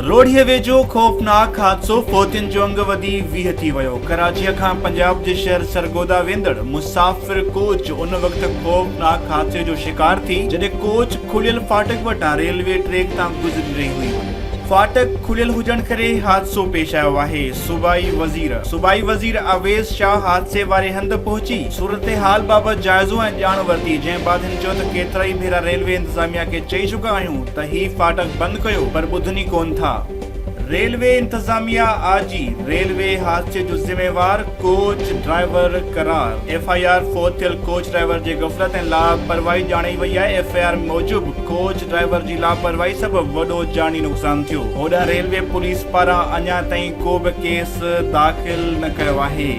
روهڙيء ويجهو خوفناڪ حادثو، فوتين جو انگ وڌي ويهه ٿي ويو، ڪراچيء کان پنجاب جي شهر سرگوڌا ويندڙ مسافر ڪوچ ان وقت خوفناڪ حادثي جو شڪار ٿي جڏهن ڪوچ کليل فاٽڪ وٽان ريلوي ٽريڪ تان گذري رهي هئي، فاٽڪ کليل هجڻ ڪري حادثو پيش آيو آهي. صوبائي وزير صوبائي وزير اويس شاهه حادثي واري هنڌ پهچي صورتحال بابت جائزو ۽ ڄاڻ ورتي جنهن بعد هن چيو ته ڪيترائي ڀيرا ريلوي انتظاميا کي چئي چڪا آهيون ته هي ڦاٽڪ بند ڪيو پر ٻڌن ئي ڪون ٿا. ريلوي انتظاميا آء جي ريلوي حادثي جو ذميوار ڪوچ ڊرائيور قرار ايف آء آر فوت ٿيل ڪوچ ڊرائيور جي غفلت ۽ لاپرواهي ڄاڻائي وئي آهي ايف آء آر موجب ڪوچ ڊرائيور جي لاپرواهي سبب وڏو جاني نقصان ٿيو، هوڏانهن ريلوي پوليس پاران اڃا تائين ڪو به ڪيس داخل نه ڪيو آهي.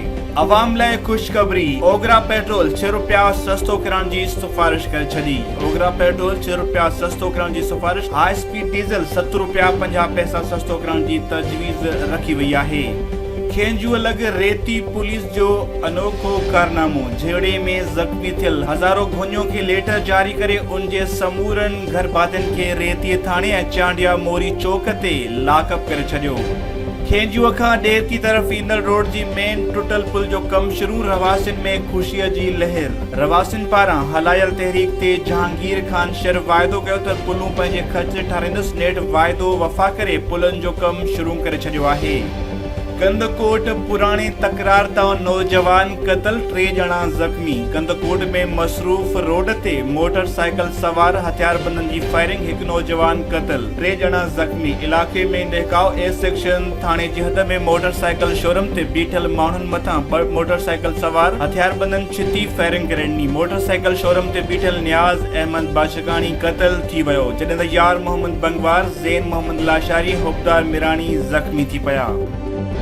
عوام لاء خوشخبري، اوگرا پيٽرول ڇهه رپيا سستو ڪرڻ جي سفارش ڪري ڇڏي، اوگرا پيٽرول ڇهه رپيا سستو ڪرڻ جي سفارش، هاء اسپيڊ ڊيزل ست رپيا پنجاهه پئسا سستو ڪرڻ جي تجويز رکي وئي آهي. کينجهو لڳ ريتي پوليس جو انوکو ڪارنامو، جهيڙي ۾ زخمي ٿيل هزارو گهونيو کي ليٽر جاري ڪري ان جي سمورن گهرڀاتين کي ريتيء ٿاڻي ۽ چانڊيا موري چوڪ تي لاڪ اپ ڪري ڇڏيو. کينجوء کان ڏيرتي طرف ايندڙ روڊ جي مين ٽٽل پل جو ڪم شروع رهواسين ۾ خوشيء جي لهر. رهواسين پاران هلايل تحريڪ تي جهانگير خان شر واعدو ڪيو ته پلون پنهنجي خرچ تي ٺاراهيندس نيٺ واعدو وفا ڪري پلن جو ڪم شروع ڪري ڇڏيو آهي. ڪنڌڪوٽ، پراڻي تڪرار تان نوجوان قتل، ٽي ڄڻا زخمي، ڪنڌڪوٽ ۾ مصروف روڊ تي موٽر سائيڪل سوار هٿياربندن جي فائرنگ هڪ نوجوان قتل، ٽي ڄڻا زخمي، علائقي ۾ ڏهڪاء اي سيڪشن ٿاڻي جي حد ۾ موٽر سائيڪل شورم تي بيٺل ماڻهن مٿان ٻه موٽر سائيڪل سوار هٿياربندن ڇتي فائرنگ ڪري ڏني، موٽر سائيڪل شورم تي بيٺل نياز احمد باشڪ. جڳاڻي قتل ٿي ويو، جڏهن ته يار محمد بنگوار، زين محمد لاشاري، حبدار ميراڻي زخمي ٿي پيا.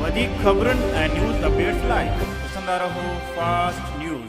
وڌيڪ خبرن ۽ نيوز اپڊيٽس لاء ڏسندا رهو فاسٽ نيوز.